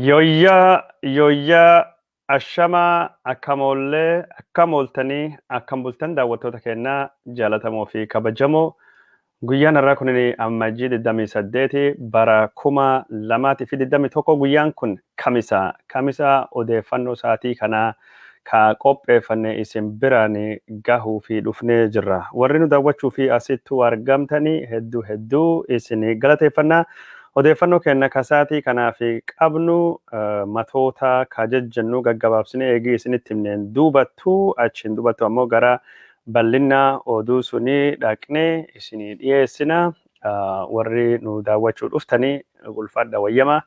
Yoyyaa yoyyaa ashamaa akkam oollee akkam ooltanii akkam bultan daawwattoota keenyaa jaalatamoo fi kabajamoo guyyaan har'aa kun ammajjii 28 bara 2021 guyyaan kun Kamisa Kamisa odeeffannoo saatii kanaa ka qopheeffanne isin biraan gahuufi dhufnee jirra. Warri nu dawwachuufi asittu argamtani heddu heddu isin galateeffanna. Odeeffannoo keenna ka saatii kanaaf qabnu matoota ka jejjennuu gaggabaabsine eegii isinitti himneen duubattu achiin dubattu ammoo gara ballinna oduu sunii dhaqnee isinii dhiyeessina. warri nu daawwachuu dhuftanii ulfaadha wayyama.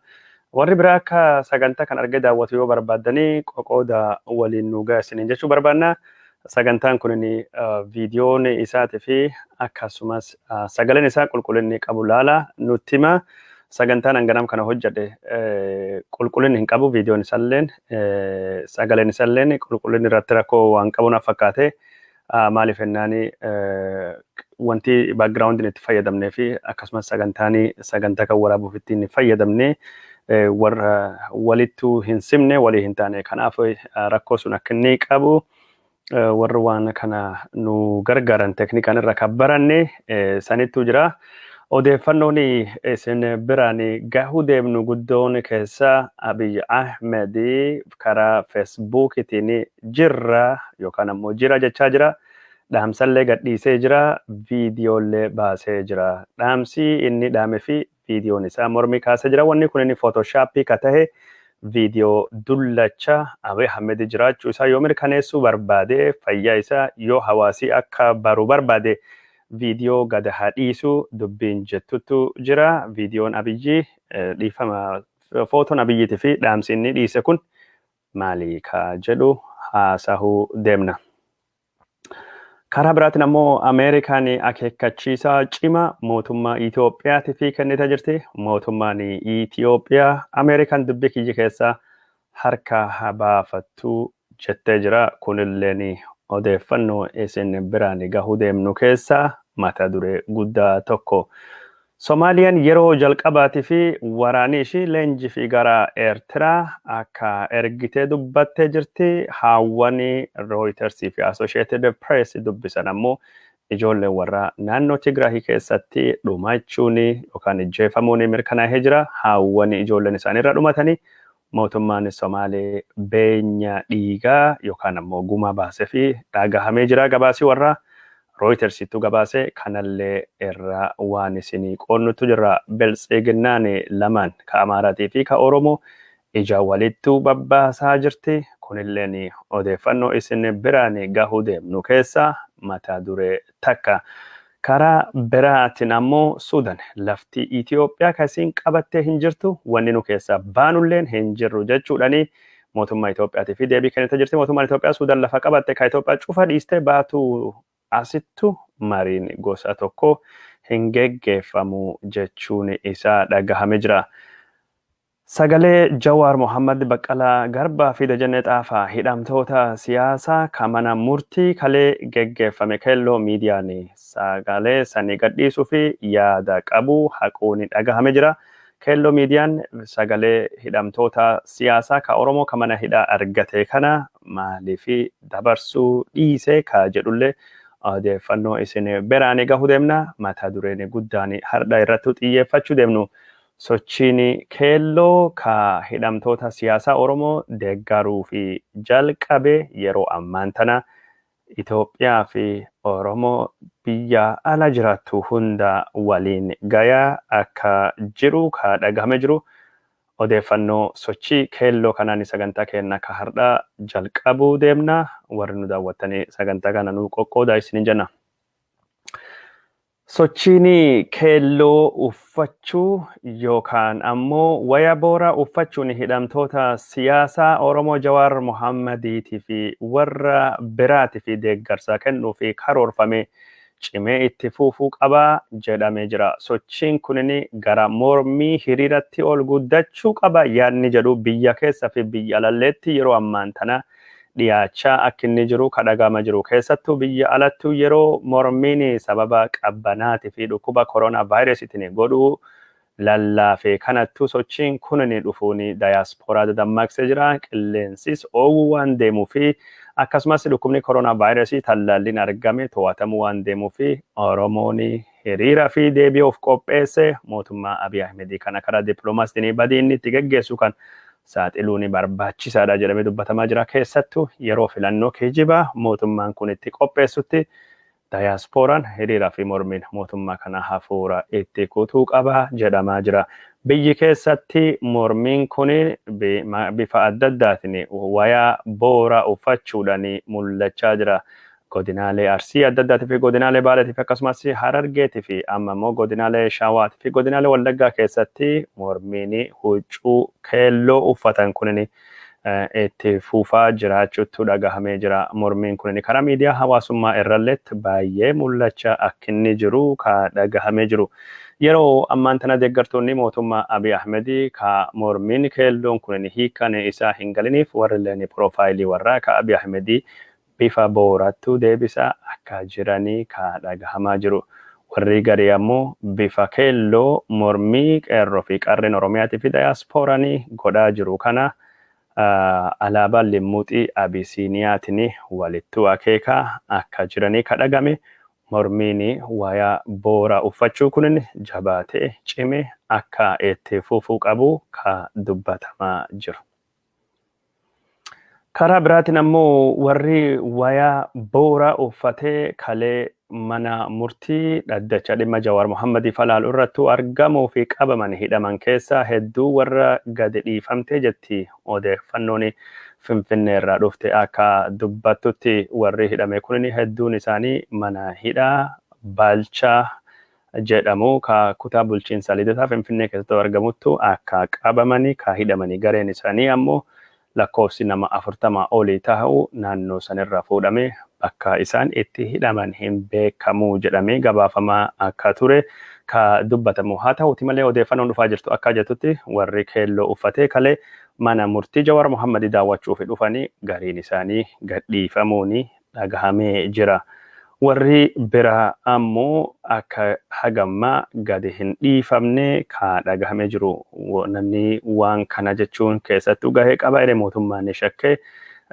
Warri biraa akka sagantaa kan argee daawwatu yoo barbaaddanii qoqooda waliin nu ga'a isiniin jechuu barbaanna. Sagantaan kun viidiyoon isaatii fi akkasumas sagaleen isaa qulqullinni qabu laala nutti hima. Sagantaan hanganam kana hojjedhe qulqullinni hin qabu viidiyoon isaalleen sagaleen isaalleen qulqullinni irratti rakkoo waan qabu naaf fakkaate. Ah, maaliif jennaani eh, wanti background itti fayyadamnee fi akkasumas sagantaani sagantaa kan waraabuuf ittiin fayyadamne eh, warra walittu hin simne walii hin taane kanaaf eh, rakkoo sun akka inni qabu eh, warri waan kana nu gargaaran teknikaan irra kan baranne eh, sanittu jira Odeeffannoon isin biraan gahuu deemnu guddoon keessa Abiy Ahmed karaa Fesbuukitiin jirra yookaan ammoo jira jechaa jira. Dhaamsallee gadhiisee jira, viidiyoollee baasee jira. Dhaamsi inni dhaame fi viidiyoon isaa mormii kaasee jira. Wanni kunin footooshaappii ka tahe viidiyoo dullacha Abiy Ahmed jiraachuu isaa yoo mirkaneessuu barbaade fayyaa isaa yoo hawaasii akka baru barbaade Video gad haa dhiisu dubbiin jettuttu jira videon abiyyi dhiifama footon abiyyiti fi dhaamsi inni dhiise kun maali ka jedhu haasahu deemna. Karaa biraatiin ammoo Ameerikaan akeekkachiisa cima mootummaa Itoophiyaatiif kennite jirti. Mootummaan Itoophiyaa Ameerikaan dubbii kiyya keessaa harka haa baafattu jettee jira. Kunilleen odeeffannoo isin biraan gahuu deemnu keessaa mata duree guddaa tokko. Somaaliyaan yeroo jalqabaatiif waraanii ishii leenjiif gara Eertiraa akka ergite dubbattee jirti. Haawwan Rooyiters fi Asosheetid Pirees dubbisan ammoo ijoolleen warraa naannoo Tigraahii keessatti dhumachuun yookaan ijjeefamuun mirkanaahee jira. Haawwan ijoolleen isaanii irra dhumatanii Mootummaan Somaalee beenya dhiigaa yookaan ammoo gumaa baasefi dhaagahamee jira gabaasi warra Rooyitersittu gabaase kanallee irra waan isinii qoonnuttu jirra. Biltsiginnaan lamaan ka Amaaraatii fi ka Oromoo ija walittu babbaasaa jirti. Kunilleen odeeffannoo isin biraan gahuu deemnu keessaa mata duree takka. Karaa biraatin ammoo Suudan lafti Itiyoophiyaa ka isiin qabattee hin jirtu, wanni nu keessaa baanulleen hin jirru jechuudhani mootummaa Itiyoophiyaatifi deebii kennite jirti. Mootummaan Itiyoophiyaa Suudan lafa qabatte ka Itiyoophiyaa cufa dhiistee baatu asittu mariin gosa tokkoo hin geggeeffamu jechuun isaa dhagahame jira. Sagalee Jawaar Mohammad, Baqqalaa Garbaa fi Dajanee Xaafaa, hidhamtoota siyaasaa ka mana murtii kalee geggeeffame Keelloo Miidiyaan sagalee sanii gadhiisuuf yaada qabu haquun dhagahame jira. Keelloo Miidiyaan sagalee hidhamtoota siyaasaa ka Oromoo ka mana hidhaa argate kana maaliif dabarsuu dhiise ka jedhullee odeeffannoo isin beraani gahu deemna. Mata dureen guddaan hardha irrattu xiyyeeffachuu deemnu Sochiin Keelloo ka hidhamtoota siyaasaa Oromoo deeggaruuf jalqabe yeroo ammaan tana Itoophiyaa fi Oromoo biyya ala jiraattu hunda waliin gayaa akka jiru ka dhagahame jiru odeeffannoo sochii Keelloo kanaani sagantaa keenna ka hardhaa jalqabuu deemna. Warri nu daawwattani sagantaa kana nuu qoqqoodaa isiniin jenna. Sochiin keelloo uffachuu yookaan ammoo waya booraa uffachuun hidhamtoota siyaasaa Oromoo Jawaar Mohaammadiitii fi warra biraatiif deeggarsa kennuuf karoorfame cimee itti fuufuu qaba jedhamee jira. Sochiin kun gara mormii hiriiratti ol guddachuu qaba yaadni jedhu biyya keessa fi biyya alalleetti yeroo ammaan tanaa dhiyaachaa akk inni jiru ka dhaga'ama jiru. Keessattuu biyya alattuu yeroo mormiin sababa qabbanaati fi dhukkuba corona virusitini godhu lallaafe kanattuu sochiin kunini dhufuun diaspora dadammaqse jira. Qilleensis oowwu waan deemu fi akkasumas dhukkubni corona virus tallaalliin argame too'atamu waan deemu fi Oromoon Hiriira fi deebi'uuf qopheesse mootummaa Abiy Ahmedii kana karaa diplomaasiitiin badii inni itti geggeessu kan saaxiluun barbaachisaadha jedhamee dubbatamaa jira. Keessattuu yeroo filannoo kijibaa mootummaan kun itti qopheessutti dayaaspooraan hiriira fi mormiin mootummaa kana hafuura itti kutuu qaba jedhamaa jira. Biyyi keessatti mormiin kun bifa adda addaatiin wayaa boora uffachuudhaan mul'achaa jira. godinaalee Arsii adda addaatii fi godinaalee Baaleetii fi akkasumas Harargeetii fi amma immoo godinaalee Shawaatii fi godinaalee Wallaggaa keessatti mormiin huccuu keelloo uffatan kunin itti fufaa jiraachuutu dhagahamee jira. Mormiin kunin karaa miidiyaa hawaasummaa irralleetti baay'ee mul'acha akkinni jiru ka dhagahamee jiru. Yeroo ammaan tana deeggartoonni mootummaa Abiy Ahmed ka mormiin keelloon kunin hiikkan isaa hin galiniif warrilleen piroofaayilii warraa ka Abiy Ahmed bifa boorattu deebisa akka jirani ka dhagahamaa jiru. Warrii garii ammo bifa keelloo mormii qeerro fi qarreen Oromiyaati fi dayaasporani godhaa jiru kana alaabaa limmuxii Abisiiniyaatini walittu akeeka akka jirani ka dhagame. Mormiini waya boora uffachuu kunin jabaate cime akka itti fufu qabu ka dubbatamaa jiru. Karaa biraatiin ammoo warri wayaa booraa uffatee kalee mana murtii dhaddacha dhimma Jawaar Mohammadii falaalu irrattuu argamuu fi qabaman hidhaman keessaa hedduu warra gadi dhiifamtee jetti odeeffannoon Finfinnee irraa dhufte akka dubbattutti warri hidhame kunin hedduun isaanii mana hidhaa Baalchaa jedhamu ka kutaa bulchiinsa Lidataa Finfinnee keessatti argamuttu akka qabamani ka hidhamani gareen isanii ammoo lakkoofsi nama 40 oli tahu naannoo sanirraa fuudhame bakka isaan itti hidhaman hin beekamu jedhamee gabaafamaa akka ture ka dubbatamu haa tahuti malee odeeffanoon dhufaa jirtu akka jettutti warri keelloo uffatee kalee mana murtii Jawaar Mohammadi daawwachuufi dhufani gariin isaanii gadhiifamuuni dhagahamee jira. Warri biraa ammoo akka hagamma gadi hin dhiifamne ka dhagahame jiru. Namni waan kana jechuun keessattuu gahee qaba jedhe mootummaan ni shakke.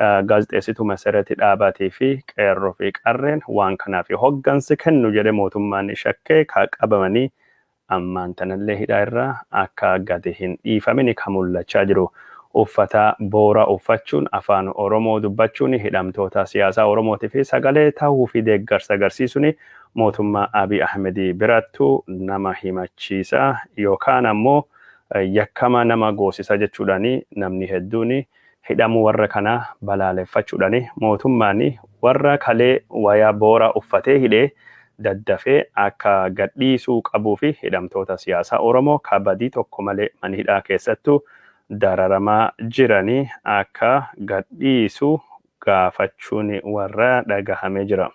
Gaazexeessituu Mesereti Dhaabaatii fi Qeerroo fi Qarreen waan kanaaf hoggansi kennu jedhe mootummaan ni shakke ka qabamanii ammaan tanallee hidhaa irraa akka gadi hin dhiifamini ka mullachaa jiru. Uffata boora uffachuun afaan Oromoo dubbachuun hidhamtoota siyaasaa Oromootiif sagalee tahuu fi deeggarsa agarsiisuun mootummaa Abiy Ahmed birattu nama himachiisa yookaan ammoo yakkama nama goosisa jechuudhaan namni hedduun Hidhamuu warra kanaa balaaleffachudhani mootummaani warra kalee wayaa booraa uffatee hidhee daddafee akka gadhiisuu qabuufi hidhamtoota siyaasaa Oromoo ka badii tokko malee manhidhaa keessattu dararamaa jirani akka gadhiisu gaafachuuni warra dhagahamee jira.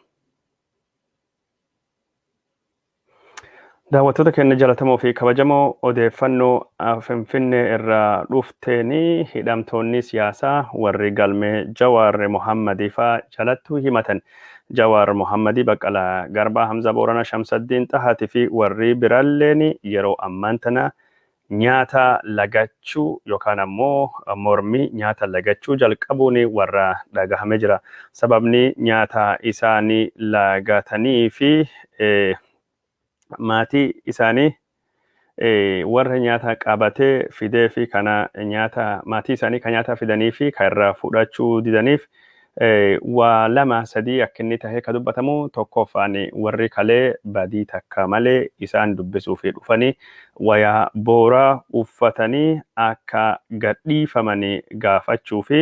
Daawwattoota keenya jalatamoo fi kabajamoo odeeffannoo Finfinnee irraa dhufteeni hidhamtoonni siyaasaa warri galmee Jawaar Mohammadii faa jalattuu himatan Jawaar Mohammadii Baqqalaa Garbaa Hamza Boorana Shamsaddiin Xahaati fi warri biralleen yeroo ammaan tana Nyaata lagachuu yookaan ammoo mormi nyaata lagachuu jalqabuun warra dhagahame jira. Sababni nyaata isaani lagatanii fi maatii isaani warra nyaata qabate fideefi kana nyaata maatii isaani ka nyaata fidanii fi ka irraa fudhachuu didaniif Waa lama sadii akka inni tahe ka dubbatamu tokkooffaan warri kalee badii takka malee isaan dubbisuuf dhufani wayaa booraa uffatanii akka gad dhiifamani gaafachuufi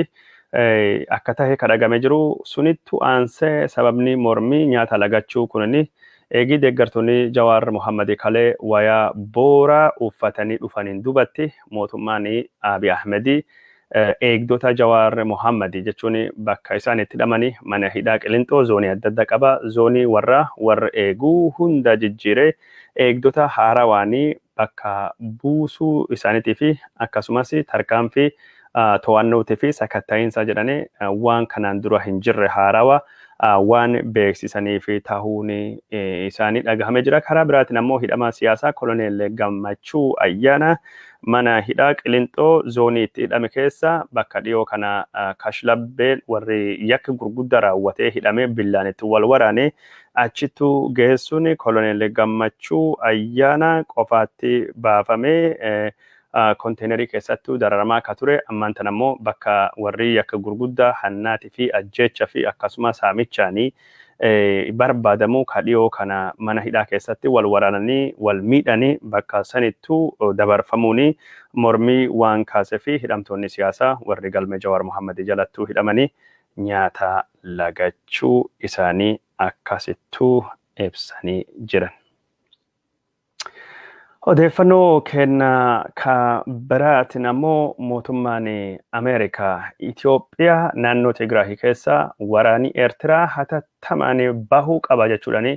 akka tahe ka dhagame jiru sunittu aansee sababni mormii nyaata lagachuu kunini eegii deeggartoni Jawaar Mohammadi kalee wayaa booraa uffatanii dhufaniin dubatti mootummaani Abi Ahmedi Eegdota Jawaar Mohammed jechuun bakka isaan itti hidhamanii mana hidhaa Qilinxoo zoonii adda adda qaba. Zoonii warra warr eegu hunda jijjiiree eegdota haarawaan bakka buusuu isaanitii fi akkasumas tarkaanfii to'annootii fi sakatta'iinsaa jedhanii waan kanaan dura hin jirre haarawa waan beeksisaniif tahuun isaanii dhagahame jira. Karaa biraatiin ammoo hidhamaa siyaasaa koloneel Gammachuu Ayyaanaa mana hidhaa Qilinxoo zoonii itti hidhame keessa bakka dhiyoo kana kashlabbeen warri yakki gurguddaa raawwatee hidhamee billaan itti wal waraane achittu geessuun koloneel Gammachuu Ayyaanaa qofaatti baafamee konteenarii keessattu dararamaa akka ture, ammaan tana immoo bakka warri yakka gurguddaa hannaatii fi ajjeecha fi akkasuma saamichaani barbaadamu ka dhiyoo kana mana hidhaa keessatti wal waraananii wal miidhani bakka sanittu dabarfamuuni mormii waan kaasefi hidhamtoonni siyaasaa warri galmee Jawaar Mohammed jalattu hidhamani nyaata lagachuu isaanii akkasittu ibsanii jiran. Odeeffannoo keenya ka biraatiin ammoo mootummaan Ameerikaa Itoophiyaa naannoo Tigraahii keessa waraanii Eertiraa hatattamaan bahuu qaba jechuudhaan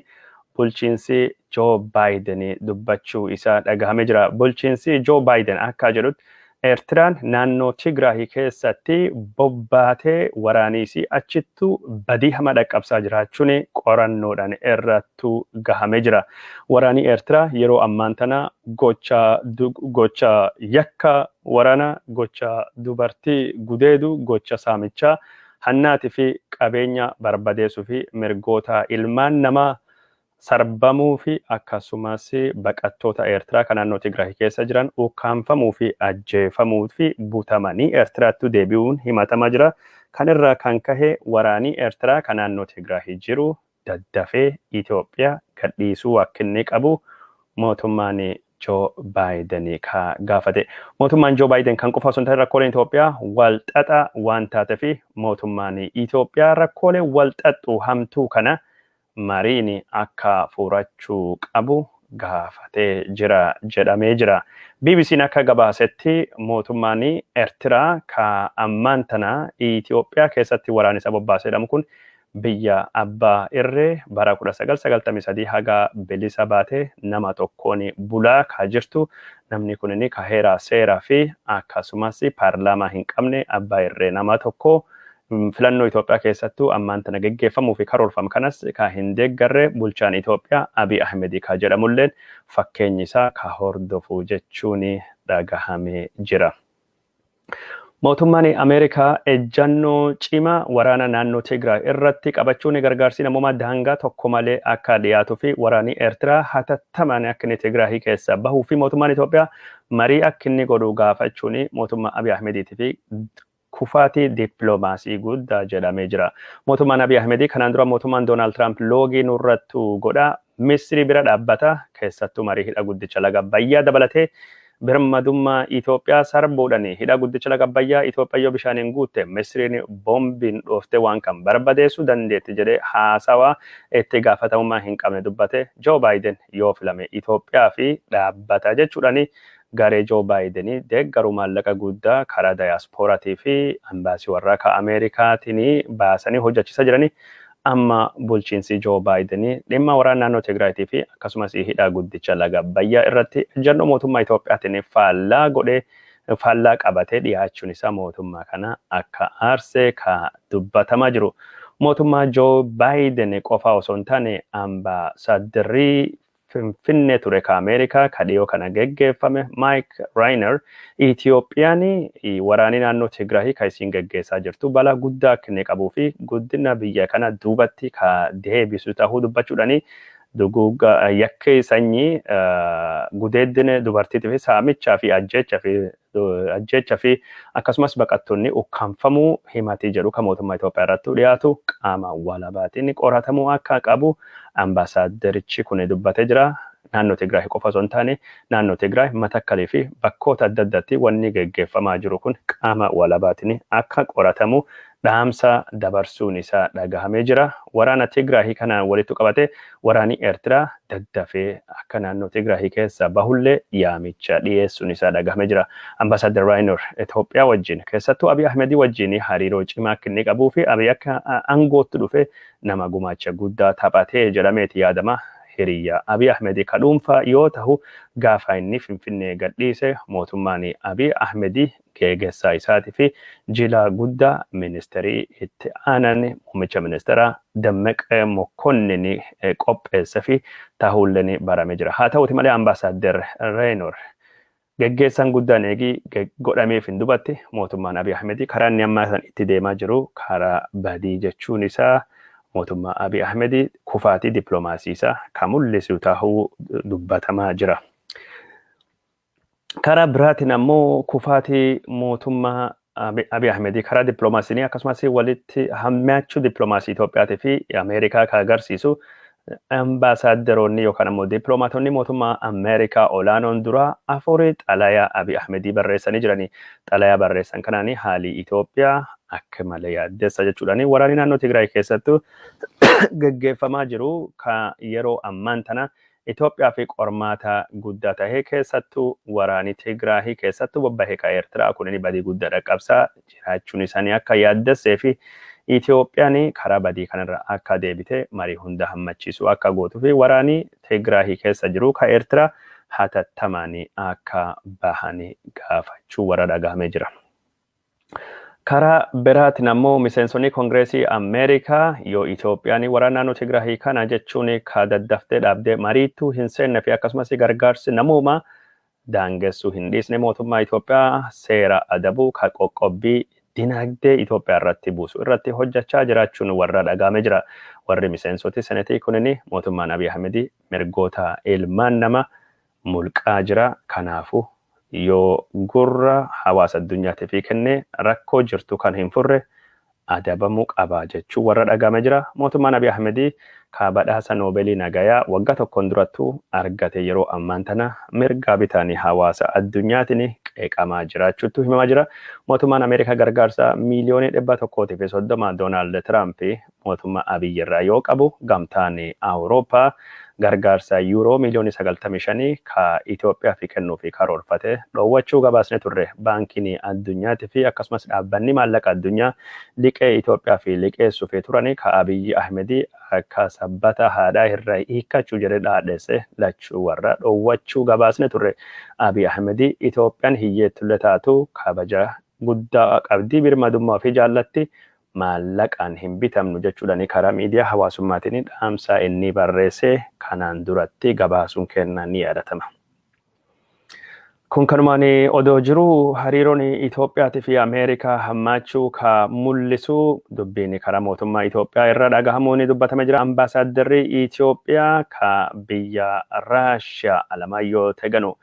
bulchiinsi Joo Baayiden dubbachuu isaa dhagahamee jira. Bulchiinsi Joo Baayiden akka jedhutti Eertiraan naannoo Tigraahi keessatti bobbaatee waraaniisii achittuu badii hama dhaqqabsaa jiraachuun qorannoodhaan irrattu gahamee jira. Waraanii Eertiraa yeroo ammaan tana gocha gocha yakka warana, gocha dubartii gudeedu, gocha saamichaa, hannaati fi qabeenya barbadeesuu fi mirgoota ilmaan namaa sarbamuu fi akkasumas baqattoota Eertiraa ka naannoo Tigraay keessa jiran ukkaamfamuu fi ajjeefamuu fi butamanii Eertiraattu deebi'uun himatamaa jira. Kan irraa kan kahe waraanii Eertiraa ka naannoo Tigraahi jiru daddafee Itoophiya gadhiisuu akkinni qabu mootummaan Joo Baayiden ka gaafate. Mootummaan Joo Baayiden kan qofa osoo hin tahin rakkooleen Itoophiyaa wal xaxa waan taatefi mootummaan Itoophiyaa rakkoolee wal xaxxuu hamtuu kana mariin akka furachuu qabu gaafatee jira jedhamee jira. BBC'n akka gabaasetti mootummaan Ertiraa ka ammaan tana Itoophiyaa keessatti waraan isa bobbaase jedhamu kun biyya abbaa irree bara 1993 haga bilisa baate nama tokkoon bulaa ka jirtu namni kunin ka heeraa seeraa fi akkasumas paarlaamaa hin qabne abbaa irree nama tokko Filannoo Itoophiyaa keessattuu ammaan tana geggeeffamuu fi karoorfam kanas ka hin deeggarre bulchaan Itoophiyaa Abiy Ahmedi ka jedhamulleen fakkeenyi isaa ka hordofu jechuun dhagahamee jira. Mootummaan Ameerikaa ejjannoo cimaa waraana naannoo Tigraay irratti qabachuun gargaarsii namoomaa daangaa tokko malee akka dhiyaatuu fi waraanii Eertiraa hatattamaan akka inni Tigraahii keessaa bahuu fi mootummaan Itoophiyaa marii akka inni godhu gaafachuun mootummaa Abiy Ahmediitii fi kufaatii dippiloomaasii guddaa jedhamee jira. Mootummaan Abiy Ahmedii kanaan dura mootummaan Doonaald Tiraamp loogii nurrattu godha, Misrii bira dhaabbata, keessattuu marii hidha guddicha laga Abbayyaa dabalatee birmadummaa Itoophiyaa sarbuudhani. Hidha guddicha laga Abbayyaa Itoophiyaa yoo bishaaniin guutte Misriin boombiin dhooftee waan kan barbadeessuu dandeetti jedhee haasawaa itti gaafatamummaa hin qabne dubbate Joo Baayiden yoo filame Itoophiyaa fi dhaabbata jechuudhani garee Joo Baayideni deeggaru maallaqa guuddaa karaa Dayaaspooratii fi Ambaasii warraa ka Ameerikaatini baasani hojjachisa jirani. Amma bulchiinsii Joo Baayideni dhimma waraana naannoo Tigraayitii fi akkasumasii hidhaa guddicha laga Abbayyaa irratti ejjannoo mootummaa Itoophiyaatini faallaa godhee faallaa qabatee dhiyaachuun isaa mootummaa kana akka aarse ka dubbatamaa jiru mootummaa Joo Baayideni qofaa osoo hin taane Ambaasaaddrri Finfinnee ture ka Ameerikaa ka dhiyoo kana geggeeffame Mike Reiner Itiyoophiyaan waraanii naannoo Tigraahii ka isiin geggeessaa jirtu balaa guddaa akka inni qabuu fi guddina biyya kana duubatti ka deebisu tahuu dubbachuudhaan duguugga yakkii sanyii, gudeeddina dubartiitii fi saamichaa fi ajjeechaa fi ajjeecha fi akkasumas baqattoonni ukkaamfamuu himatii jedhu kan mootummaa Itoophiyaa irratti dhiyaatu qaama walabaatiin qoratamuu akka qabu ambaasaadderichi kun dubbatee jira. Naannoo Tigraay qofa osoo hin taane naannoo Tigraay, Matakkalii fi bakkoota adda addaatti wanni geggeeffamaa jiru kun qaama walabaatiin akka qoratamu dhaamsa dabarsuun isaa dhagahamee jira. Waraana Tigraahi kanaan walitti qabate waraani Ertiraa daddafee akka naannoo Tigraahi keessaa bahullee yaamicha dhiyeessuun isaa dhagahamee jira. Ambassador Raynor Itoophiyaa wajjin keessattuu Abiy Ahmedii wajjin hariiroo cimaa akka inni qabuu fi Abiy akka aangootti dhufe nama gumaacha guddaa taphatee jedhameeti yaadama. Hiriyya Abiy Ahmedii ka dhuunfaa yoo tahu gaafa inni Finfinnee gadhiise mootummaan Abiy Ahmedii Geegessaa isaati fi jilaa guddaa Ministeerii itti aanan muummicha ministeeraa Dammeq Mokkonnin qopheessef tahuullen barame jira. Haa tahuti malee Ambaasaadder Reenor geggeessaan guddaan eegii godhameef hin dubatti mootummaan Abiy Ahmed karaa inni ammaa san itti deemaa jiru karaa badii jechuun isaa mootummaa Abiy Ahmed kufaatii diplomaasii isaa ka mullisu tahuu dubbatamaa jira. Karaa biraatiin ammoo kufaatii mootummaa Abi- Abiy Ahmed karaa dippiloomaasiinii akkasumas walitti hammaachuu dippiloomaasii Itoophiyaatii fi Ameerikaa kan agarsiisu ambaasaaddaroonni yookaan ammoo dippiloomaatonni mootummaa Ameerikaa olaanoon duraa afurii xalayaa Abiy Ahmedii barreessanii jiranii xalayaa barreessan kanaan haalii Itoophiyaa akka malee yaaddessa jechuudhaan waraanni naannoo Tigraay keessattuu gaggeeffamaa jiru kan yeroo ammaan tana Itoophiyaafi qormaata gudda tahe keessattu waraani Tigraahi keessattu bobbahe ka Ertiraa kunini badii gudda dhaqqabsa jiraachuun isani akka yaaddesseefi Itoophiyani karaa badii kanarra akka deebite marii hunda hammachiisu akka gootufi waraani Tigraahi keessa jiru ka Ertiraa hatattamaani akka bahani gaafachuu warra dhagahame jira. Karaa biraatiin ammoo miseensonni Kongireesii Ameerikaa yoo Itoophiyaan waraana naannoo Tigraahii kana jechuun ka daddaftee dhaabdee mariittuu hin seenne fi akkasumas gargaarsi namoomaa daangessuu hin dhiisne mootummaa Itoophiyaa seera adabuu ka qoqqobbii dinagdee Itoophiyaa irratti buusu irratti hojjachaa jiraachuun warra dhagaame jira. Warri miseensoti senetii kunini mootummaan Abiy Ahmedii mirgoota ilmaan nama mulqaa jira. Kanaafu, yoo gurra hawaasa addunyaatifi kenne rakkoo jirtu kan hin furre adabamu qaba jechuun warra dhagahame jira. Mootummaan Abiy Ahmed ka badhaasa Noobelii Nagayaa wagga tokkon durattu argate yeroo ammaan tana mirgaa bitaani hawaasa addunyaatini qeeqamaa jiraachuttu himamaa jira. Mootummaan Ameerika gargaarsa miiliyoonii 130 Donaald Tiraamp Mootummaa Abiy irraa yoo qabu Gamtaan Awurooppaa gargaarsa Yuuroo miiliyoonii 95 ka Itoophiyaafi kennuufi karoorfate dhoowwachuu gabaasne turre. Baankiin Addunyaati fi akkasumas Dhaabbanni Maallaqa Addunyaa liqee Itoophiyaafi liqeessuufi turani ka Abiy Ahmed akka sabbata haadhaa irra hiikkachu jedhe dhaadhesse lachuu warra dhoowwachuu gabaasne turre. Abiy Ahmed Itoophiyaan hiyyeettulle taatu kabaja guddaa qabdi, birmadummaa ofii jaallatti, maallaqaan hin bitamnu jechuudhani karaa miidiyaa hawaasummaatini dhaamsaa innii barreesee kanaan durattii gabaasuun keenna ni yaadatama. Kun kanumaani odoo jiruu hariirooni Itoophiyaati fi Ameerikaa hammaachuu ka mullisuu dubbiini karaa mootummaa Itoophiyaa irra dhagahamuuni dubbatame jira Ambaasaaddarri Itoophiyaa ka biyya Raashiyaa Alamaayyoo Teganuu.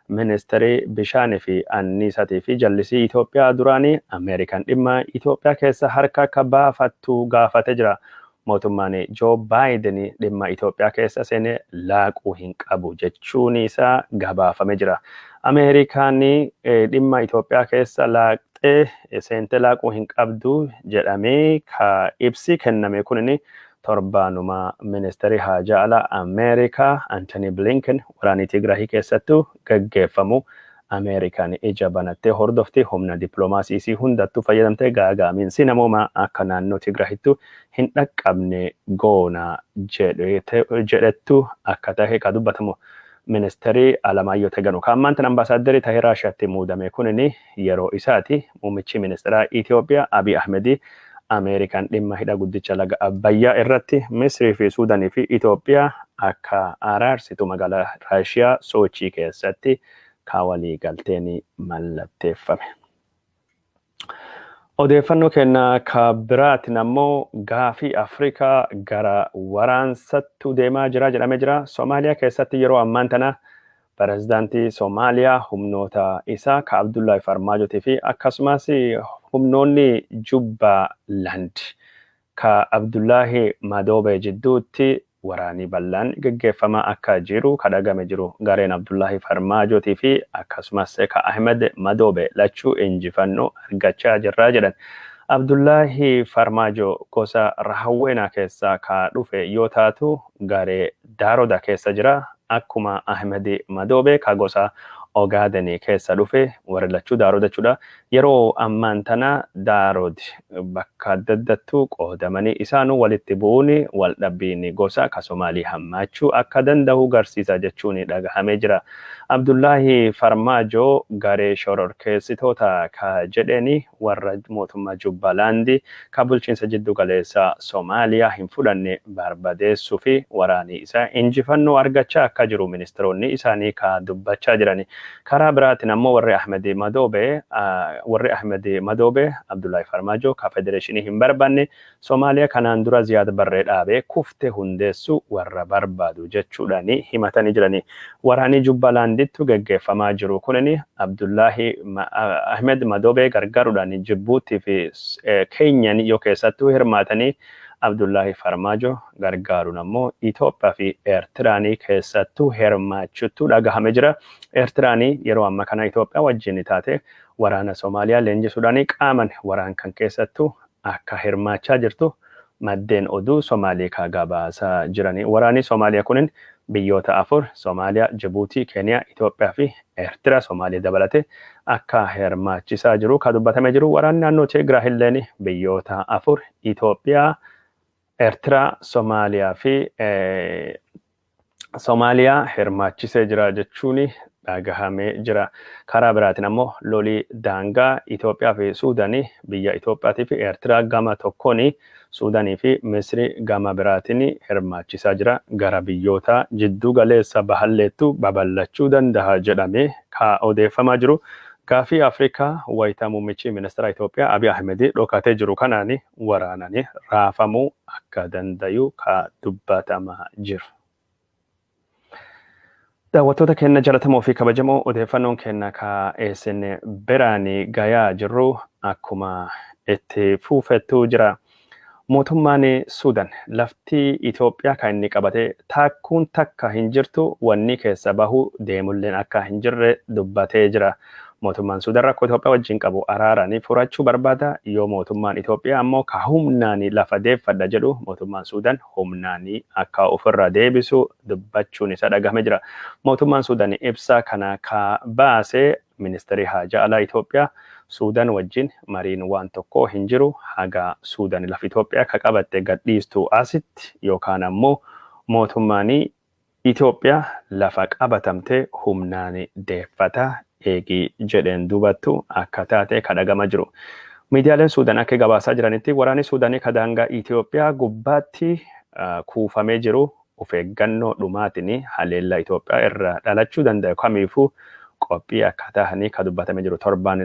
Ministirii Bishaanii fi Anniisaatii fi Jallisii Itoophiyaa duraanii Ameerikaan dhimma Itoophiyaa keessaa harka akka baafattu gaafatee jira. Mootummaan Joo Baayiden dhimma Itoophiyaa keessa seene laaquu hin qabu jechuun isaa gabaafame jira. Ameerikaan dhimma Itoophiyaa keessa laaqxee seentee laaquu hin qabdu jedhamee ka ibsi kenname kunin Torbaanuma Ministeerri Haajaa Alaa Ameerikaa Antanii Bilinken waraanii Tigraahii keessattu gaggeeffamu Ameerikaan ija banattee hordofti, humna diplomaasii isii hundattu fayyadamtee gaaga'amiinsi namoomaa akka naannoo Tigraahittu hin dhaqqabne goona jedhettu akka tahe ka dubbatamu Ministeeri Alamaayyoo Teganu ka ammaan tana Ambaasaaddarii tahee Raashiyaatti muudame kunin yeroo isaati Muummichi Ministiraa Itiyoophiyaa Abiy Ahmed Ameerikaan dhimma hidha guddicha laga Abbayyaa irratti Misrii fi Suudanii fi Itiyoophiyaa akka araarsitu magaalaa Raashiyaa Soochii keessatti ka waliigalteen mallatteeffame. Odeeffannoo keenya ka biraatiin ammoo gaafii Afrikaa gara waraansattu deemaa jira jedhamee jira. Somaaliyaa keessatti yeroo ammaan tana Pirezidaantii Somaaliyaa humnoota isaa ka Abdullaahi Farmaajotii fi akkasumas humnoonni Jubbaland ka Abdullaahi Madoobee jidduutti waraanii bal'aan geggeeffamaa akka jiru ka dhagame jiru. Gareen Abdullaahi Farmaajotii fi akkasumas ka Ahimed Madoobee lachuu injifannoo argachaa jirra jedhan. Abdullaahi Farmaajoo gosa Rahawweenaa keessaa ka dhufe yoo taatu garee Daroda kessa jira akkuma Ahmed Madobe ka gosa Ogaden kessa dhufe warri lachu Daroda jechudha yero amman tana Darod bakka adda addattu qodamani isanu walitti bu'un wal dhabbin gosa ka Somali hammachu akka dandahu garsisa jechun dhagahame jira Abdullahi Farmajo gare shororkesitota ka jedheni warra mootummaa Jubbalaandi ka bulchiinsa jiddu galeessa Somaaliyaa hin fudhanne barbadeessuu fi waraanii isaa injifannoo argachaa akka jiru ministiroonni isaanii ka dubbachaa jirani. Karaa biraatiin ammoo warri Ahmedi Madoobe, warri Ahmedi Madoobe, Abdullaahi Farmaajoo ka federeeshinii hin barbaanne, Somaaliya kanaan dura Ziyaad Barree dhaabe kufte hundeessu warra barbaadu jechuudhani himatani jirani. Waraani Jubbalaandittu geggeeffamaa jiru kunini Abdullahi Ahmed Madobe gargarudhani Jibbuutti fi Kenyani yoo keessattu hirmaatani Abdullahi Farmaajo gargaarun ammo Itoophiya fi Ertiraani keessattu hirmaachuttu dhagahame jira. Ertiraani yeroo amma kana Itoophiya wajjini taate waraana Somaaliya leenjisudhani qaaman waraan kan keessattu akka hirmaachaa jirtu maddeen oduu Somaaliikaa gabaasaa jirani. Waraanii Somaaliya kunin biyyoota afur, Somaaliya, Jibuutii, Keeniya, Itoophiya fi Ertira, Somaaliya dabalate, akka hirmaachisaa jiru ka dubbatame jiru. Waraanni naannoo Tigraahilleen biyyoota afur, Itoophiya, Eertiraa, Somaaliyaa fi Somaaliyaa hirmaachisee jira jechuun dhagahamee jira. Karaa biraatiin ammoo lolii daangaa Itoophiyaa fi Suudanii biyya Itoophiyaatii fi Eertiraa gama tokkoon Suudanii fi Misrii gama biraatiin hirmaachisaa jira. Gara biyyoota jidduu galeessa bahalleettu babal'achuu dandaha jedhamee ka odeeffamaa jiru gaafii Afrikaa wayita muummichi ministeeraa Itoophiyaa Abiy Ahmed dhokatee jiru kanaan waraanani raafamuu akka dandayu ka dubbatama jiru. Daawwattoota keenna jalatamoo fi kabajamoo odeeffannoon keenna ka isin biraani gayaa jirru akkuma itti fuufettu jira. Mootummaani Suudan lafti Itoophiyaa ka inni qabate taakkuun takka hin jirtu wannii keessa bahuu deemulleen akka hin jirre dubbatee jira. Mootummaan Suudan rakkoo Itoophiyaa wajjin qabu araaraan furachuu barbaada, yoo mootummaan Itoophiyaa ammoo ka humnaan lafa deeffadha jedhu mootummaan Suudan humnaan akka ofirraa deebisu dubbachuun isaa dhagahame jira. Mootummaan Suudan ibsa kana ka baase Ministeerri Haajaa Alaa Itoophiyaa Suudan wajjin mariin waan tokkoo hin jiru haga Suudan lafa Itoophiyaa ka qabatte gadhiistu asitti yookaan ammoo mootummaan Itoophiyaa lafa qabatamtee humnaan deeffata eegi jedheen duubattu akka taate ka dhagama jiru. Miidiyaaleen Suudan akka gabaasaa jiranitti waraanii Suudanii ka daangaa Itoophiyaa gubbaatti kuufamee jiru ufeeggannoo dhumaatiin haleellaa Itoophiyaa irraa dhalachuu dandayu kamiifuu qophii akkaataa hanii ka dubbatame jiru torbaan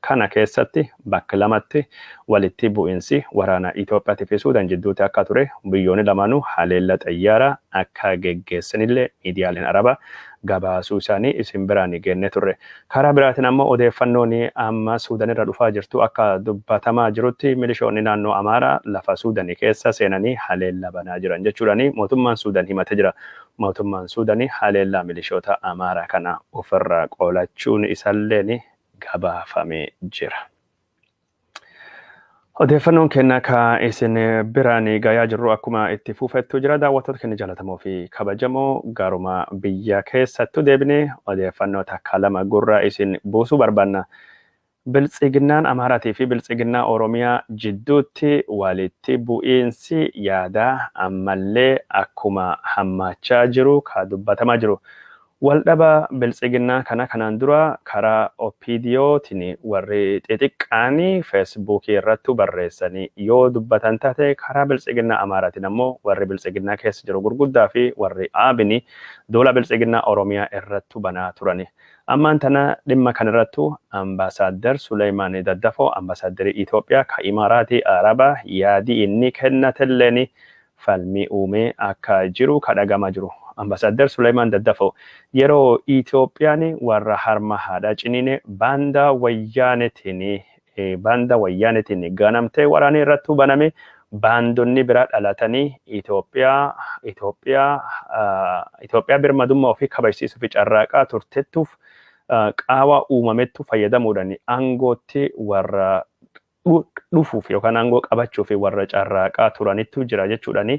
kana keessatti bakka lamatti walitti bu'insi waraana Itoophiyaatti fi Suudan jidduutti akka ture biyyoonni lamaanuu haleella xayyaara akka geggeessanillee miidiyaaleen Arabaa gabaasuu isaanii isin biraan geenne turre. Karaa biraatiin ammoo odeeffannoon amma Suudanirra dhufaa jirtu akka dubbatamaa jirutti milishoonni naannoo Amaaraa lafa Suudanii keessa seenanii haleella banaa jiran jechuudhaan mootummaan Suudan himate jira. Mootummaan Suudani haleellaa milishoota Amaaraa kana ofirraa qolachuun isaalleen gabaafame jira. Odeeffannoon keenna ka isin biraan gayaa jirru akkuma itti fuufettu jira. Daawwattoota keenya jaalatamoo fi kabajamoo garuma biyya keessattu deebinee odeeffannoo takka lama gurra isin buusuu barbaanna. Biltsiginnaan Amaaraatii fi Biltsiginnaa Oromiyaa jidduutti walitti bu'iinsi yaadaa ammallee akkuma hammaachaa jiru ka dubbatamaa jiru. Waldhaba Biltsiginnaa kana kanaan dura karaa OPDO tiin warri xixiqqaan Feesbuukii irrattu barreessanii yoo dubbatan taate karaa Biltsiginnaa Amaaraatiin ammoo warri Biltsiginnaa keessa jiru gurguddaa fi warri ABn duula Biltsiginnaa Oromiyaa irrattu banaa turani. Ammaan tana dhimma kana irrattu Ambaasaaddar Suleeymaan Daddafoo Ambaasaaddarii Itoophiyaa ka Imaaraatii Arabaa yaadii inni kennatelleen falmii uumee akka jiru ka dhaga'amaa jiru. Ambaasaaddar Suleeymaan Daddafoo yeroo Itoophiyaan warra harma haadhaa ciniine baandaa Wayyaaneetiin Baanda Wayyaaneetiin ganamtee waraanii irrattuu baname baandonni biraa dhalatanii Itoophiyaa Itoophiyaa Itoophiyaa birmadummaa ofii kabajsiisuuf carraaqaa turtettuuf qaawaa uumamettu fayyadamuudhaan aangootti warra dhufuuf yookaan aangoo qabachuuf warra carraaqaa turanittu jira jechuudhaan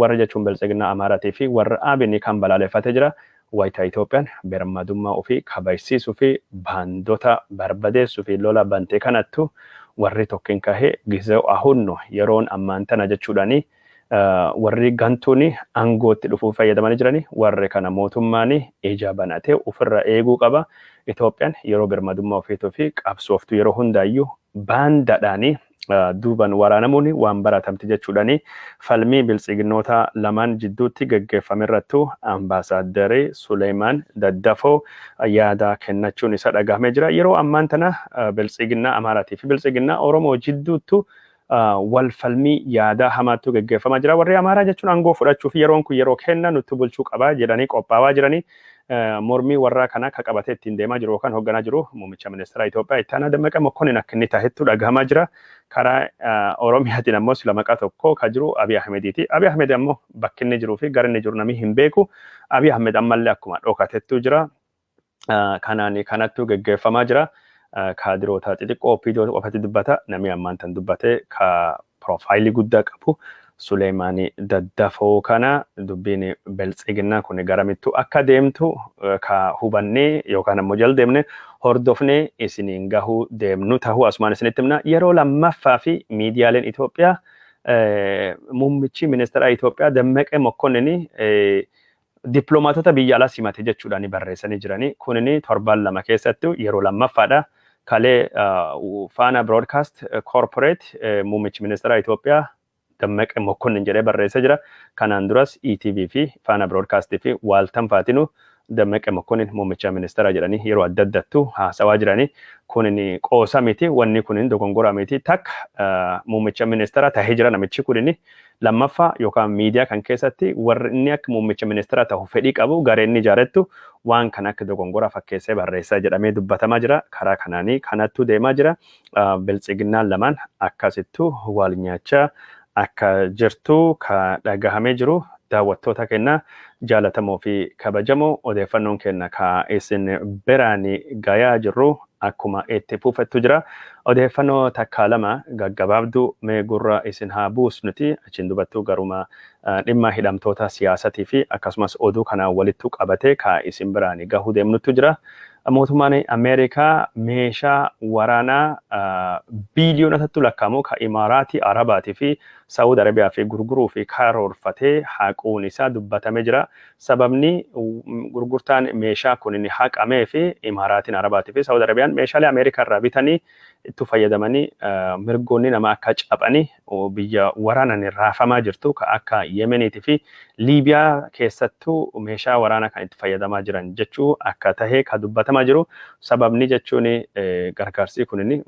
warra jechuun biltsiginnaa Amaaraatii fi warra Abinii kan balaaleffatee jira. Wayita Itoophiyaan birmadummaa ofii kabajsiisuuf baandota barbadeessuuf lola bante kanattu warri tokkin kahee Gizew Ahun no, Yeroon ammaan tana jechuudhaan warri gantuun aangootti dhufuuf fayyadamanii jiran warri kana mootummaan ija banatee ofirra eeguu qaba. Itoophiyaan yeroo birmadummaa ofiitiif qabsooftu yeroo hundaayyuu baandadhaanii. duuban waraanamuun waan baratamte jechuudhaan falmii biltsiginnootaa lamaan jidduutti gaggeeffamerrattu Ambaasaaddari Suleemaan Daddafoo yaada kennachuun isaa dhagahamee jira. Yeroo ammaan tana biltsiginnaa Amaaraatii fi biltsiginnaa Oromoo jidduuttu wal falmii yaadaa hamaattu gaggeeffamaa jira. Warri Amaaraa jechuun aangoo fudhachuu fi yeroon kun yeroo kenna nuttu bulchuu qaba jedhanii qophaawaa jiranii mormii warraa kanaa ka qabatee ittiin deemaa jiru yookaan hoogganaa jiru muummicha ministeeraa Itoophiyaa itti aanaa Dammaqa Mokkonin akka inni tahetu dhagahamaa jira. Karaa Oromiyaatiin ammoo sila maqaa tokko ka jiru Abiy Ahmediiti. Abiy Ahmed ammoo bakki inni jiruu fi gara inni jiru namni hin beeku. Abiy Ahmed ammallee akkuma dhokatettuu jira. Kanaan kanattuu geggeeffamaa jira. Kaadiroota xixiqqoo OPDO qofatti dubbata. Namni ammaan tan dubbate ka Piroofaayilii guddaa qabu Suleeymaan Daddafoo kana dubbiin Beltsiginnaa kun garamittuu akka deemtu ka hubannee yookaan ammoo jal deemne hordofnee isiniin gahuu deemnu tahuu asumaan isinitti himna. Yeroo lammaffaa fi miidiyaaleen Itoophiyaa muummichi ministeeraa Itoophiyaa Dammaqee Mokkonnin Diplomaatota biyya alaa simate jechuudhaan barreessanii jiran. Kun torban lama keessatti yeroo lammaffaadha. Kalee Faana Broodkaast Koorporeet muummichi ministeeraa Itoophiyaa Dammaqe Mokkonnin jedhee barreessee jira. Kanaan duras ETV fi Faana Broodkaastii fi waaltan faatinu Dammaqe Mokkonnin muummicha ministeeraa jedhanii yeroo adda addattu haasawaa jirani. Kun qoosa miti, wanni kun dogongora miti. Takka muummicha ministeeraa tahee jira namichi kun Lammaffaa yookaan miidiyaa kan keessatti warri inni akka muummicha ministeera tahu fedhii qabu garee inni ijaarettu waan kana akka dogongora fakkeessee barreessa jedhamee dubbatamaa jira. Karaa kanaanii kanattuu deemaa jira. Biltsiginnaan lamaan akkasittuu wal nyaachaa akka jirtu ka dhagahamee jiru daawwattoota keenna jaalatamoo fi kabajamoo odeeffannoon keenna ka isin biraani gayaa jirru akkuma itti fuufettu jira. Odeeffannoo takkaa lama gaggabaabduu mee gurra isin haa buusnuti achiin dubattuu garuma dhimma hidhamtoota siyaasatii fi akkasumas oduu kanaan walittu qabatee ka isin biraani gahuu deemnuttu jira. Mootummaan Ameerikaa meeshaa waraanaa biiliyoonotattu lakkaa'amu ka Imaaraatii Arabaatii fi Sa'uud Arabiyaa fi gurguruu fi karoorfatee haquun isaa dubbatamee jira. Sababni gurgurtaan meeshaa kunini haqameefi Imaaraatiin Arabaatiifi Saawud Arabiyaan meeshaalee Ameerikaa irraa bitanii ittu fayyadamanii mirgoonni namaa akka caphani biyya waraanani raafamaa jirtu ka akka Yemeniitiifi Liibiyaa keessattu meeshaa waraanaa kan itti fayyadamaa jiran jechuu akka tahe ka dubbatamaa jiru. Sababni jechuun gargaarsii kunini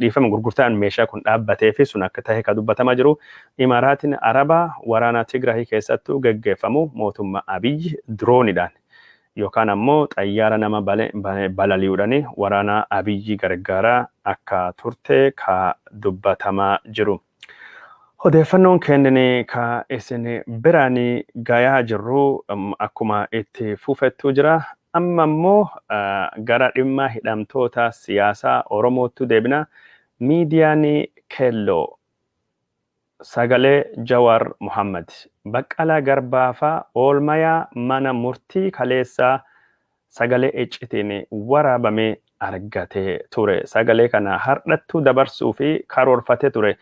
dhiifama gurgurtaan meeshaa kun dhaabbateefi sun akka tahe ka dubbatamaa jiru. Imaaraatiin Arabaa waraana Tigraay keessattuu geggeeffamu mootummaa Abiy diroonidhaan yookaan ammoo xayyaara nama balali'uudhaan waraana Abiy gargaaraa akka turte ka dubbatamaa jiru. Odeeffannoon keennin ka isin biraan gayaa jirru akkuma itti fufettuu jira. Amma ammoo gara dhimma hidhamtoota siyaasaa Oromoottu deebina. Miidiyaan Keelloo Sagalee Jawar Mohammed. Baqqalaa Garbaa faa oolmayaa mana murtii kaleessaa sagalee iccitiin waraabame argatee ture. Sagalee kana hardhattuu dabarsuuf karoorfatee ture.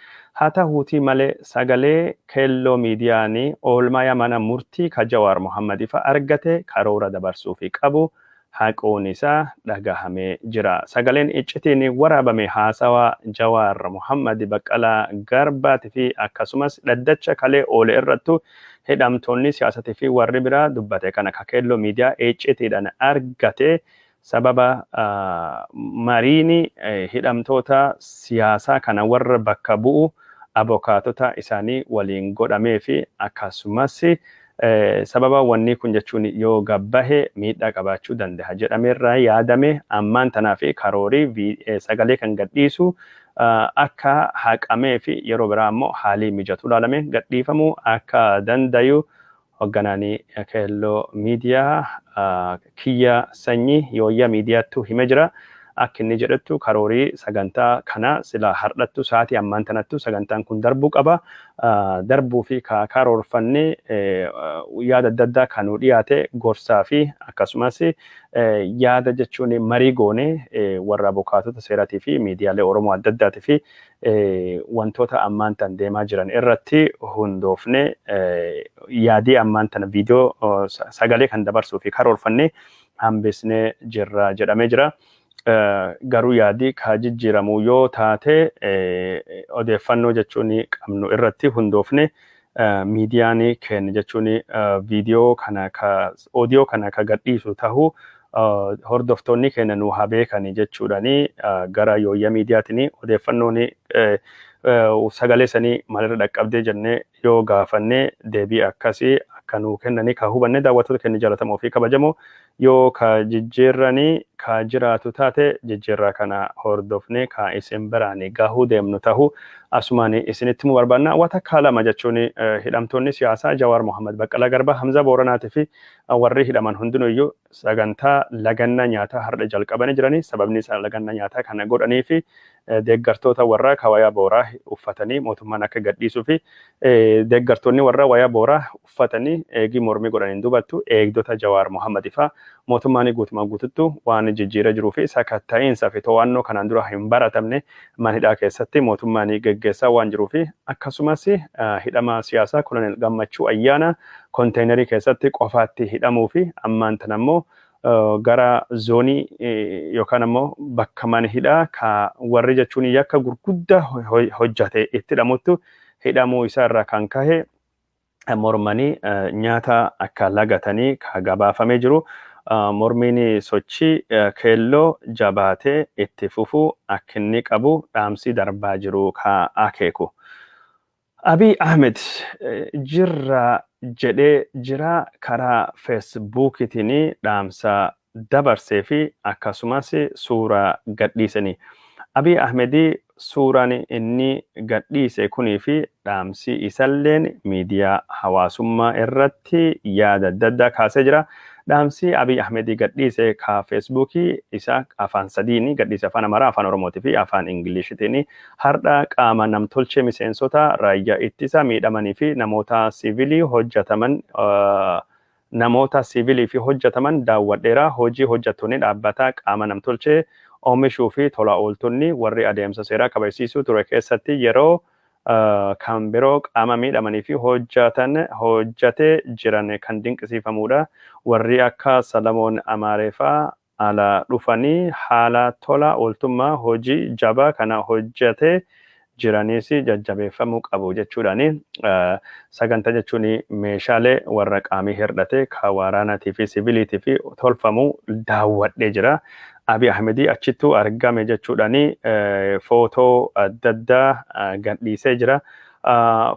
Haa tahuutii malee sagalee Kelloo Miidiyaani oolmayaa mana murtii ka Jawar Mohammed fa argate karoora dabarsuuf qabu haquun isaa dhagahamee jira. Sagaleen iccitiin waraabame haasawa Jawaar Mohaammad, Baqqalaa Garbaatii fi akkasumas dhaddacha kalee oole irrattu hidhamtoonni siyaasatii fi warri biraa dubbate kana ka Keelloo Miidiyaa iccitiidhan argate sababa mariin hidhamtoota siyaasaa kana warra bakka bu'u abokaatota isaanii waliin godhameefi akkasumas Sababa wannii kun jechuun yoo gad bahe miidhaa qabaachuu dandaha jedhame irraa yaadame ammaan tanaaf karoori sagalee kan gad dhiisuu akka haqamee fi yeroo biraa ammoo haalii mijatu ilaalame gad dhiifamuu akka dandayu hogganaani Keelloo Miidiyaa kiyya sanyi yooyya miidiyaattu hime jira akk inni jedhettu karoori saganta kana sila hardhattu saati ammaan tanattu sagantaan kun darbu qaba darbuufi ka karoorfanne yaada adda addaa ka nuu dhiyaate gorsaa fi akkasumas yaada jechuun marii goone warra abukaatota seerati fi miidiyaalee oromoo adda addaati fi wantoota ammaan tan deemaa jiran irratti hundoofne yaadii ammaan tana viidiyoo sagalee kan dabarsuu fi karoorfanne hambisnee jirra jedhamee jira. Garuu yaadii kaa jijjiiramu yoo taate odeeffannoo jechuun qabnu irratti hundoofne midiyaani keen jechuuni vidiyoo kana ka odiyoo kana ka gadhiisu tahu hordoftoonni keenya nuu haa beekani jechuudhani gara yooyya midiyaatini odeeffannooni sagalee sanii maalirra dhaqqabdee jennee yoo gaafanne deebii akkasi akka nuu kennani ka hubanne daawwattoota keenya jaalatamoo fi kabajamoo Yoo ka jijjiirrani ka jiraatu taate, jijjiirraa kana hordofnee ka isin biraani gahuu deemnu tahu asumaani isinitti himuu barbaanna. Waa takkaa lama jechuun hidhamtoonni siyaasaa Jawaar Mohammed, Baqqalaa Garbaa, Hamzaa Booranaatii fi warrii hidhaman hundinuuyyuu sagantaa lagannaa nyaataa hardha jalqabanii jirani. Sababni isaan lagannaa nyaataa kana godhaniifi deeggartoota warraa ka wayaa booraa uffatanii mootummaan akka gadhiisuufi deeggartoonni warraa wayaa booraa tuffatanii eegii mormii godhaniin dubattu eegdota Jawaar Mohammed faa mootummaanii guutumaan guututtu waan jijjiira jiruu fi sakatta'iinsa fi too'annoo kanaan dura hin baratamne man hidhaa keessatti mootummaanii geggeessaa waan jiruu fi akkasumas hidhamaa siyaasaa Kolonel Gammachuu Ayyaanaa konteenerii keessatti qofaatti hidhamuu fi ammaan tana immoo gara zoonii yookaan ammoo bakka man hidhaa ka warri jechuun yakka gurguddaa hojjate itti hidhamuttu hidhamuu isaa irraa kan kahe mormanii nyaata akka lagatanii ka gabaafamee jiru mormiin sochii keelloo jabaatee itti fufuu akkinni qabu dhaamsii darbaa jiru ka akeeku. Abiy Ahmed jirra jedhee jiraa karaa Feesbuukiitiin dhaamsa dabarse fi akkasumas suuraa gadhiisani. Abiy Ahmed suuraan inni gadhiise kunii fi dhaamsi isalleen miidiyaa hawaasummaa irratti yaada adda addaa kaasee jira. Dhaamsi Abiy Ahmed gadhiise ka Facebook isa afaan sadiini gadhiise afaan Amaaraa, afaan Oromooti fi afaan Ingilishitiini. Hardha qaama namtolchee miseensota raayyaa ittisa miidhamanii fi namoota siivilii hojjataman namoota siivilii fi hojjataman daawwadheera. Hojii hojjattoonni dhaabbataa qaama namtolchee oomishuu fi tola ooltonni warri adeemsa seeraa kabajsiisuu ture keessatti yeroo kan biroo qaama miidhamanii fi hojjatan hojjate jiran kan dinqisiifamuudha. Warrii akka Salamoon Amaaree faa ala dhufanii haala tola ooltummaa hojii jabaa kana hojjate jiraniis jajjabeeffamuu qabu jechuudhaan saganta jechuun meeshaalee warra qaamii hirdhatee ka waaraanatii fi siviiliitiif tolfamu daawwadhee jira. Abiy Ahmedii achittuu argame jechuudhaan footoo adda addaa gadhiisee jira.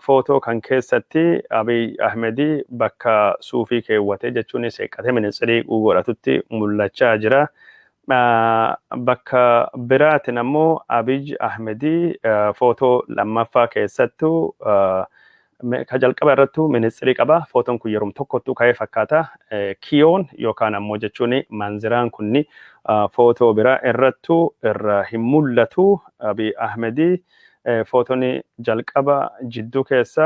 Footoo kan keessatti Abiy Ahmed bakka suufii keewwatee jechuunis seeqqatee minitsirii godhatutti mul'achaa jira. Bakka biraatiin ammoo Abiy Ahmed footoo lammaffaa keessattu ka jalqaba irrattu minitsirii qaba. Footoon kun yerum tokkottuu ka'ee fakkaata. Kiyoon yookaan ammoo jechuun manziraan kunni footoo biraa irrattu irra hin mul'atu. Abiy Ahmed footoni jalqaba jidduu keessa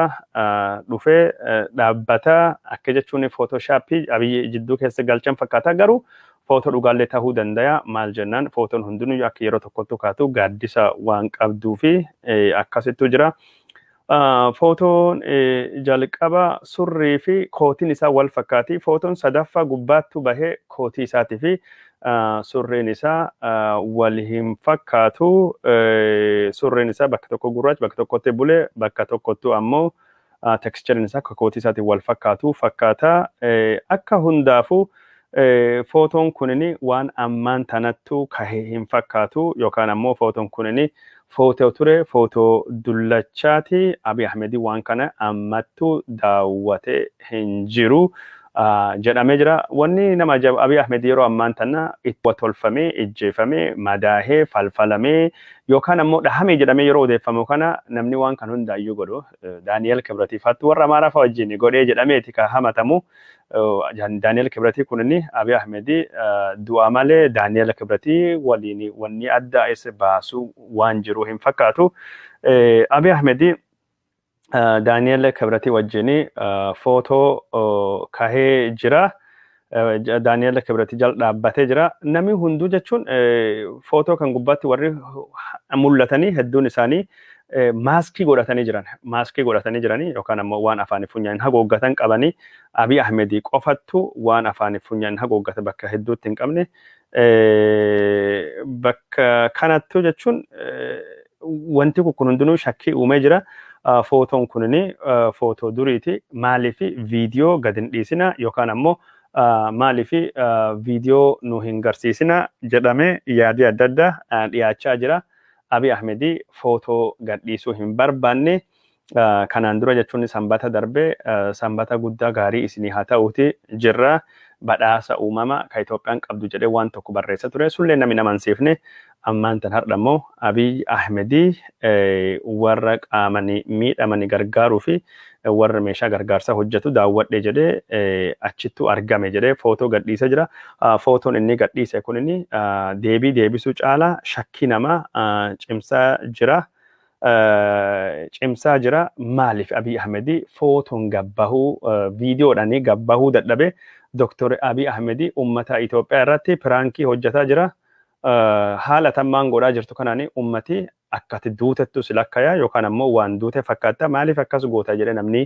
dhufe dhaabbata akka jechuun footoshaapii abiyyi jidduu keessa galchan fakkaata garuu footoo dhugaallee tahuu dandaya maal jennaan footoon hundinuu akka yeroo tokkottu kaatu gaaddisa waan qabduu fi akkasittuu jira. Footoon jalqaba surrii fi kootiin isaa wal fakkaati. Footoon sadaffaa gubbaattu bahee kootii isaatii fi surreen isaa wal hin fakkaatu surreen isaa bakka tokko gurraacha bakka tokkotti bule bakka tokkottu ammoo tekstichariin isaa akka kootii isaatiin wal fakkaatu fakkaata akka hundaafu footoon kunini waan ammaan tanattu kahe hin fakkaatu yookaan ammoo footoon kunini Footoo ture footoo dullachaati Abiy Ahmedii waan kana ammattuu daawwate hin jiru jedhamee jira. Wanni nama ajaa'ibu Abiy Ahmed yeroo ammaan tana itti watolfamee, ijjeefamee, madaahee, falfalamee yookaan ammoo dhahamee jedhamee yeroo odeeffamu kana namni waan kan hundaayyuu godhu Daani'eel Kibratiifaattu warra Amaaraa fa'a wajjin godhee jedhameeti ka hamatamu. Daani'el Kibratii kun inni Abiy Ahmed du'aa malee Daani'el Kibratii waliin wanni adda is baasu waan jiru hin fakkaatu. Abiy Ahmed Daani'el Kibratii wajjin footoo kahee jira. Daani'el Kibratii jal dhaabbatee jira. Namni hunduu jechuun footoo kan gubbaatti warri mul'atanii hedduun isaanii maaskii godhatanii jiran maaskii godhatanii jiranii yookaan ammoo waan afaanii funyaaniin hagooggatan qabanii Abiy Ahmed qofattu waan afaanii funyaaniin hagooggate bakka hedduutti hin qabne bakka kanattu jechuun wanti kun hundinuu shakkii uumee jira. Footoon kunin footoo duriiti maaliif viidiyoo gad hin dhiisina yookaan ammoo maaliif viidiyoo nu hin garsiisina jedhamee yaadii adda addaa dhiyaachaa jira. Abiy Ahmed footoo gadhiisuu hin barbaanne. Kanaan dura jechuun Sanbata darbe Sanbata guddaa gaarii isinii haa ta'uuti jirra badhaasa uumama ka Itoophiyaan qabdu jedhee waan tokko barreessa ture sullee namni nama hin siifne ammaan tan hardha immoo Abiy Ahmed warra qaamani miidhamani gargaaruu fi warra meeshaa gargaarsaa hojjetu daawwadhe jedhee achittuu argame jedhee footoo gadhiisee jira. Footoon inni gadhiise kun inni deebii deebisuu caalaa shakkii namaa cimsaa jira. Cimsaa jira maaliif Abiy Ahmed footoon gabbahuu viidiyoodhaan gabbahuu dadhabe Dooktar Abiy Ahmed uummata Itoophiyaa irratti piraankii hojjetaa jira. Haala tammaan godhaa jirtu kanaan uummati akka ati duutettu si lakkaya yookaan ammoo waan duute fakkaatta maaliif akkas goota jedhe namni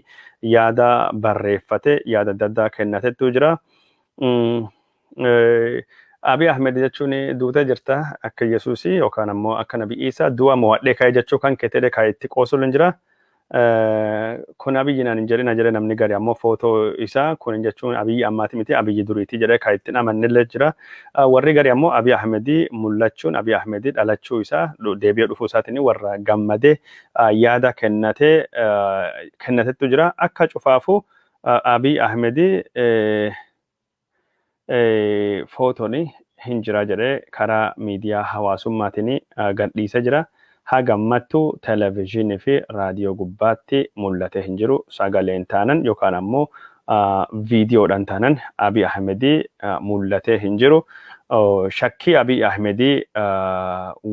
yaada barreeffate yaada adda addaa kennatettu jira. Abiy Ahmed jechuun duutee jirta akka Yesuusii yookaan ammoo akka Nabi Iisaa du'a mo'adhee ka'e jechuu kan keeteedhe kan itti qoosuun jira. kun abiyyi naan hin jedhina jedhe namni gari ammoo footoo isaa kun hin jechuun abiyyi ammaati miti abiyyi duriiti jedhe kan ittiin amannillee jira warri gari ammoo abiy ahmedii mul'achuun abiy ahmedii dhalachuu isaa deebi'ee dhufuu isaatiin warra gammadee yaada kennatee kennatettu jira akka cufaafuu abiy ahmedii footoon hin jira jedhee karaa miidiyaa hawaasummaatiin gadhiise jira. Haga ammattu television fi raadiyoo gubbaatti mul'atee hin jiru. Sagaleen taanan yookaan ammoo viidiyoodhaan taanan Abiy Ahmed mul'atee hin jiru. Shakkii Abiy Ahmed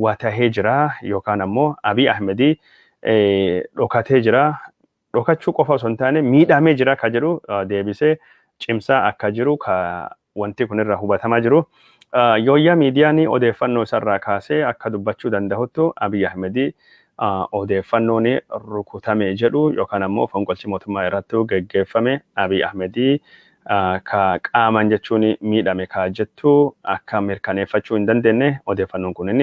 watahee jira yookaan ammoo Abiy Ahmed dhokatee jira dhokachuu qofa osoo hin taane miidhaamee jira ka jedhu deebisee cimsaa akka jiru ka wanti kun irraa hubatamaa jiru. Yooyyaa miidiyaan odeeffannoo isarraa kaasee akka dubbachuu danda'uttu Abiy Ahmed odeeffannoon rukutame jedhu yookaan ammoo fonqolchi mootummaa irratti geggeeffame Abiy Ahmed ka qaamaan jechuun miidhame ka jettu akka mirkaneeffachuu hin dandeenye odeeffannoon kunin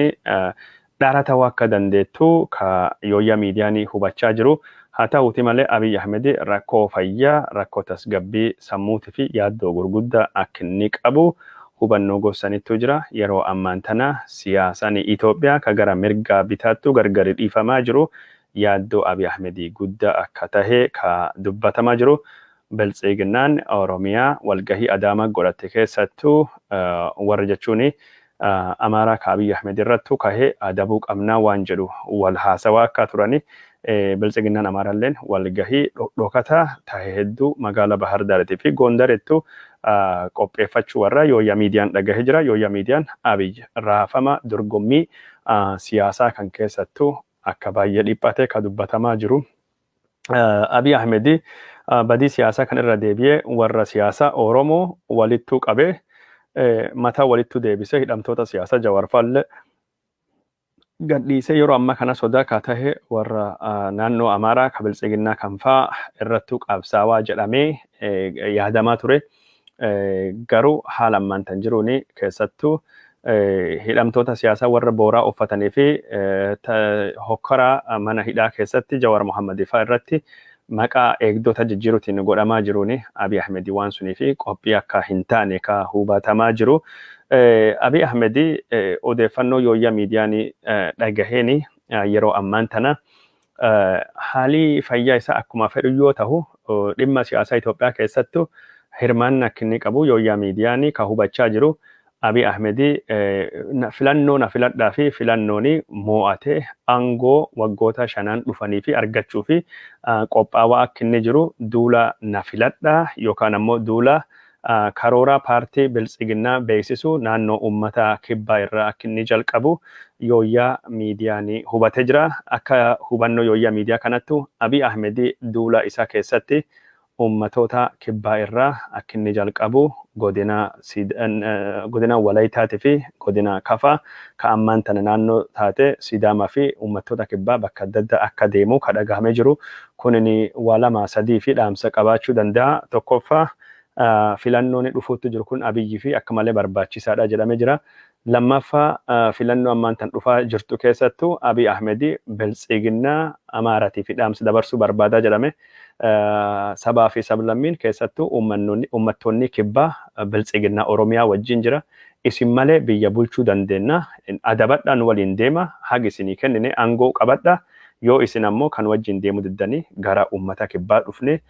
dhara ta'uu akka dandeettu ka yooyyaa miidiyaanii hubachaa jiru. Haa ta'uutii malee Abiy Ahmed rakkoo fayyaa, rakkoo tasgabbii sammuutii fi yaaddoo gurguddaa akka inni qabu hubannoo gorsanittuu jira. Yeroo ammaan tana siyaasaan Itoophiyaa ka gara mirgaa bitaattuu gargari dhiifamaa jiru yaaddoo Abiy Ahmed guddaa akka tahe ka dubbatamaa jiru. Biltsiginnaan Oromiyaa walgahii Adaamaa godhatte keessattuu warra jechuun Amaaraa ka Abiy Ahmed irrattu kahe adabuu qabnaa waan jedhu wal haasawaa akkaa turani Biltsiginnaan Amaaralleen wal gahii dhokataa tahe hedduu magaala Bahar Daariti fi Goondarittu qopheeffachuu warra Yooyyaa Miidiyaan dhagahe jira. Yooyyaa Miidiyaan Abiy raafama dorgommii siyaasaa kan keessattu akka baay'ee dhiphate ka dubbatamaa jiru. Abiy Ahmed badii siyaasaa kan irra deebi'ee warra siyaasaa Oromoo walittuu qabee mataa walittuu deebisee hidhamtoota siyaasaa Jawaar faalle gadhiisee yeroo ammaa kana sodaa kaa tahe warra naannoo Amaaraa ka biltsiginnaa kan faa irrattuu qabsaawaa jedhamee yaadamaa ture. Garuu haala ammaan tan jiruun keessattuu hidhamtoota siyaasaa warra booraa uffatanii fi hokkora mana hidhaa keessatti Jawaar Mohaammed faa irratti maqaa eegdota jijjiiruutiin godhamaa jiruun Abiy Ahmed waan sunii fi qophii akka hin taane ka hubatamaa jiru. Abiy Ahmed odeeffannoo yooyyaa miidiyaan dhagaheen yeroo ammaan tana Haalii fayyaa isaa akkuma fedhu yoo tahu dhimma siyaasaa Itoophiyaa keessattu hirmaanna akka inni qabu yooyyaa miidiyaani ka hubachaa jiru Abiy Ahmedi filannoo na filadhaa fi filannooni moo'atee aangoo waggoota shanaan dhufanii fi argachuu fi qophaawaa akka inni jiru duula na filadhaa yookaan ammoo duula Karoora Paartii Biltsiginnaa beeksisu naannoo uummata Kibbaa irraa akka inni jalqabu Yooyyaa Miidiyaa ni hubatee jira. Akka hubannoo Yooyyaa Miidiyaa kanattu Abiy Ahmed duula isaa keessatti uummatoota Kibbaa irraa akka inni jalqabu Godina Godina Walaytaati fi Godina Kafaa ka ammaan tana naannoo taate Sidaamaa fi uummattoota Kibbaa bakka adda addaa akka deemu ka dhagahamee jiru. Kunini waa lama sadii fi dhaamsa qabaachuu danda'a. Tokkoffaa. filannooni dhufuutti jiru kun Abiyyifi akka malee barbaachisaadha jedhame jira. Lammaffaa filannoo ammaan tan dhufaa jirtu keessattu Abiy Ahmedi Biltsiginnaa Amaaratiifi dhaamsa dabarsuu barbaadaa jedhame. Sabaafi sablammiin keessattuu ummattoonnii kibbaa Biltsiginnaa Oromiyaa wajjiin jira. Isin malee biyya bulchuu dandeenna. Adabadhaa nu waliin deema. Haga isinii kennine angoo qabadha. Yoo isin ammoo kan wajjiin deemuu diddanii gara ummata kibbaa dhufnee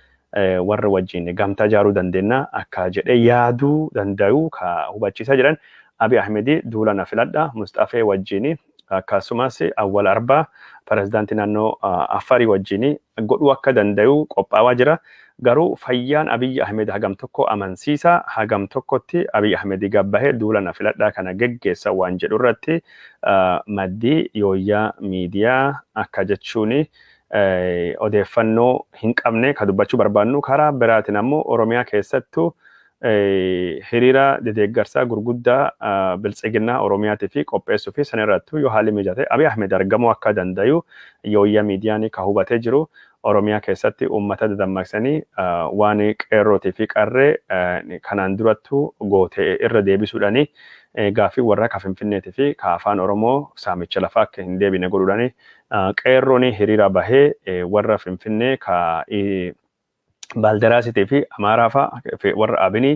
warra wajjin gamtaa ijaaruu dandeenya akka jedhee yaaduu danda'u ka hubachiisaa jiran Abiy Ahmed duula na filadha Musxafee wajjin akkasumas Awwal Arbaa pirezidaantii naannoo Affarii wajjin godhuu akka danda'u qophaawaa jira. Garuu fayyaan Abiy Ahmed hagam tokko amansiisa hagam tokkotti Abiy Ahmed gabbahee duula na filadhaa kana geggeessa waan jedhu irratti maddi Yooyyaa Miidiyaa akka jechuun odeeffannoo hin qabne ka dubbachuu barbaannu karaa biraatiin ammoo Oromiyaa keessattu hiriira dedeeggarsaa gurguddaa biltsiginnaa Oromiyaatii fi qopheessuu fi san irrattu yoo haalli mijate Abiy Ahmed argamuu akka dandayu yooyya miidiyaanii ka hubatee jiru Oromiyaa keessatti uummata dadammaqsanii waan qeerrootii fi qarree kanaan durattu goote irra deebisuudhani gaaffii warra ka Finfinneetii fi ka Afaan Oromoo saamicha lafaa akka hin deebine godhuudhani Qeerrooni hiriira bahe warra Finfinnee ka Baalderasiti fi Amaaraa fa warra Abini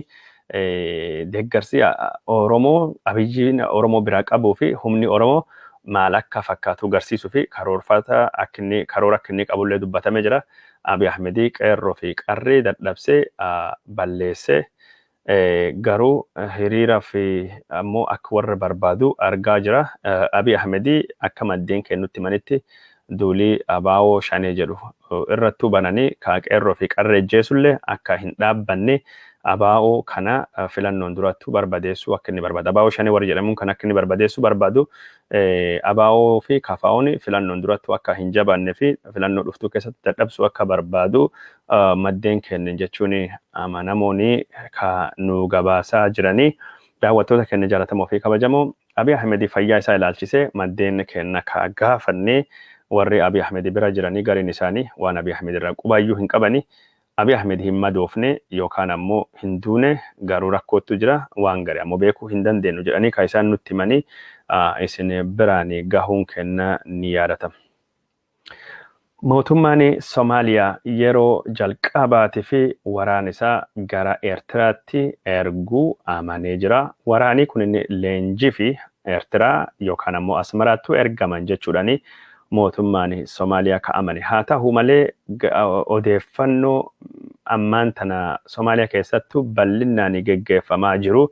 deeggarsi Oromoo Abiyyiin Oromoo biraa qabuu fi humni Oromoo maal akka fakkaatu garsiisuu fi karoorfata akka inni karoora akka inni qabullee dubbatamee jira. Abiy Ahmedii qeerroo fi qarree dadhabsee balleessee Garuu hiriiraaf ammoo akka warra barbaadu argaa jira. Abiy Ahmed akka maddeen keen nutti himanitti duulii abo Shanee jedhu irrattuu bananii ka Qeerroo fi Qarree ijjeesullee akka hin dhaabbanne abo kana filannoon durattuu barbadeessuu akka inni barbaadu abo Shanee warri jedhamuun kan akka inni barbadeessuu barbaadu ABO fi KFOn filannoon durattuu akka hin jabaanne fi filannoo dhuftuu keessatti dadhabsuu akka barbaadu maddeen keenya jechuun amanamoon ka nuu gabaasaa jiranii. Daawwattoota keenya jaalatamoo fi kabajamoo Abiy Ahmed fayyaa isaa ilaalchisee maddeen keenya ka gaafannee warri Abiy Ahmed bira jiranii gariin isaanii waan Abiy Ahmed irraa qubaayyuu hin qabani Abiy Ahmed hin madoofne yookaan ammoo hin duune garuu rakkoottu jira waan gari ammoo beekuu hin dandeennu jedhanii kan isaan nutti himanii isin biraan gahuun keenna ni yaadatama. Mootummaan Somaaliyaa yeroo jalqabaatifi waraana isaa gara Eertiraatti ergu amanee jira. Waraanii kunin leenjifi Eertiraa yookaan ammoo Asmaraattu ergaman jechuudhani mootummaan Somaaliyaa ka amane. Haa tahu malee odeeffannoo ammaan tana Somaaliyaa keessattu ballinnaan geggeeffamaa jiru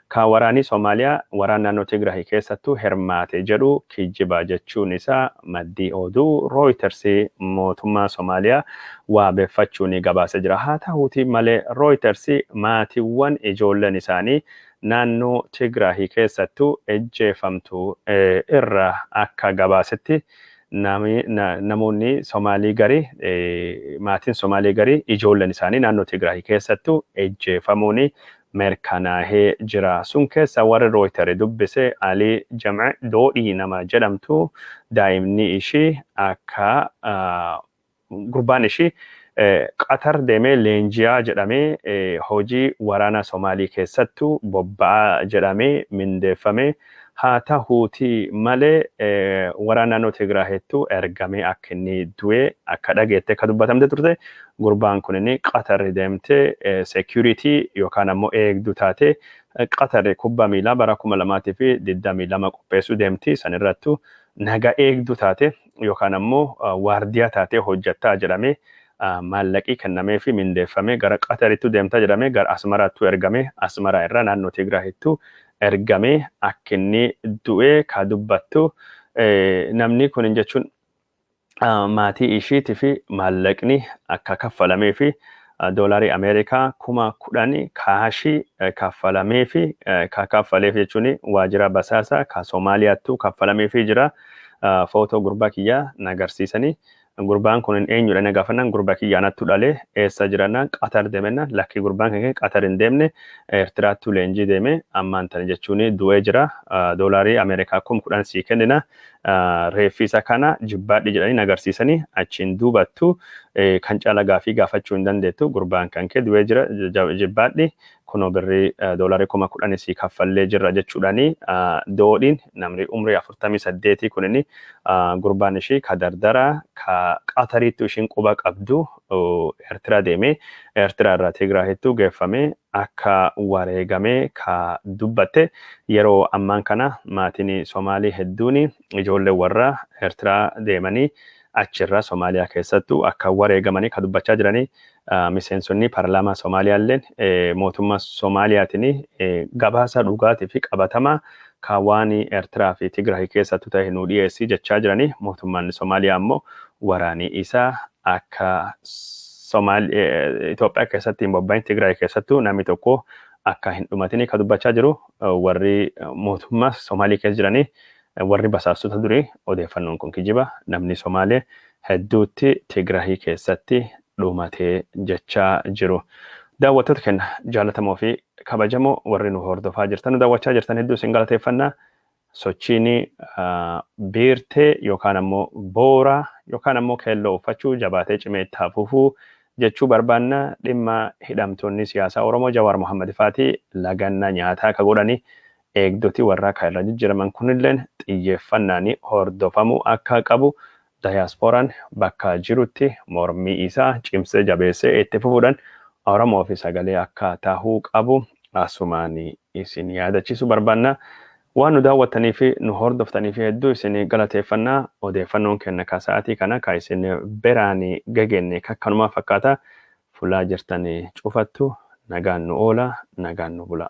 ka waraanii Somaaliyaa waraan naannoo Tigrahi keessattu hirmaate jedhu kijjiba jechuun isaa maddii oduu Rooyiters mootummaa Somaaliyaa waabeffachuun gabaase jira. Haa tahuutii malee Rooyiters maatiwwan ijoolleen isaanii naannoo Tigraahi keessattu ejjeefamtu irra akka gabaasetti namoonni Somaalii gari maatiin Somaalii gari ijoolleen isaanii naannoo Tigraahi keessattu ejjeefamuun merkanaahee jira. Sun keessa warri Rooyitari dubbise Alii Jam'e Doodhii nama jedhamtu daa'imni ishii akka Gurbaan ishii Qatar deemee leenji'aa jedhamee hojii waraana Somaalii keessattu bobba'aa jedhamee mindeeffamee haa tahuutii malee waraana naannoo Tigraahiittu ergamee akka inni du'e akka dhageette akka dubbatamte turte. Gurbaan kunin Qatar deemte security yookaan ammoo eegduu taatee Qatar kubba miilaa bara 2022 qopheessuu deemti. San irrattu naga eegduu taatee yookaan ammoo waardiyaa taatee hojjattaa jedhamee maallaqii kennameefii mindeeffamee gara Qatarittu deemta jedhamee gara Asmaraattuu ergamee Asmaraa irraa naannoo Tigraahittuu ergamee akkinni du'ee kaa dubbattu namni kunin jechuun maatii ishiitifi maallaqni akka kaffalameefi doolarii Ameerikaa kuma 10 kaashii kaffalameefi ka kaffaleef jechuun waajira basaasa ka Somaaliyaattu kaffalameefii jira. Footoo gurbaa kiyyaa na garsiisanii. Gurbaan kunin eenyudha na gaafannaan gurba kiyya anattu dhale eessa jirannaan Qatar deemennaan lakkii gurbaan keenya Qatar hin deemne Eertiraattu leenjii deeme ammaan tana jechuun du'ee jira doolaarii Ameerikaa kum 10 sii kennina reeffi isa kana jibbaadhi jedhanii nagarsiisanii achiin duubattu kan caala gaafii gaafachuu hin dandeettu gurbaan kan kee du'ee jira jibbaadhi kunoo birrii doolarii kuma kudhanii sii kaffallee jirra jechuudhaanii doodhiin namni umrii afurtamii saddeetii kunini gurbaan ishii ka dardara ka qatariittu ishiin quba qabdu eertiraa deemee eertiraa irraa tigraahittu geeffamee akka wareegame ka dubbatte, yeroo ammaan kana maatiin Somaalii hedduun ijoollee warra Ertiraa deemanii achirra Somaaliyaa keessattu akka wareegamanii ka dubbachaa jiranii miseensonni parlaamaa Somaaliyaalleen mootummaa Somaaliyaatiin gabaasa dhugaatii fi qabatamaa ka waan Ertiraa fi Tigraahi keessattu tahe nuu dhiyeessi jechaa jiranii mootummaan Somaaliyaa ammoo waraanii isaa akka Somaal Itoophiyaa keessatti hin bobba'in Tigraay keessattuu namni tokko akka hin dhumatini ka dubbachaa jiru warri mootummaa Somaalii keessa jiranii warri basaastota durii odeeffannoon kun kijiba namni Somaalee hedduutti Tigraahii keessatti dhumatee jechaa jiru. Daawwattoota keenya jaalatamoo fi kabajamoo warri nu hordofaa jirtan nu daawwachaa jirtan hedduu isin galateeffannaa Sochiin biirtee yookaan ammoo boora yookaan ammoo keelloo uffachuu jabaatee cimee itti haa fufu jechuu barbaanna. Dhimma hidhamtoonni siyaasaa Oromoo Jawaar Mohammed faatii laganna nyaataa ka godhani eegdoti warraa ka irraa jijjiraman kunilleen xiyyeeffannaan hordofamuu akka qabu Dayaasporaan bakka jirutti mormii isaa cimsee jabeessee itti fufuudhan Oromoofi sagalee akka tahuu qabu asumaan isin yaadachiisuu barbaanna. Waan nu daawwattaniifi nu hordoftaniif hedduu isin galateeffanna. Odeeffannoon keenna ka sa'atii kana ka isin biraan gegeenne kakkanumaa fakkaata. Fulaa jirtan cufattu nagaan nu oola, nagaan nu bula.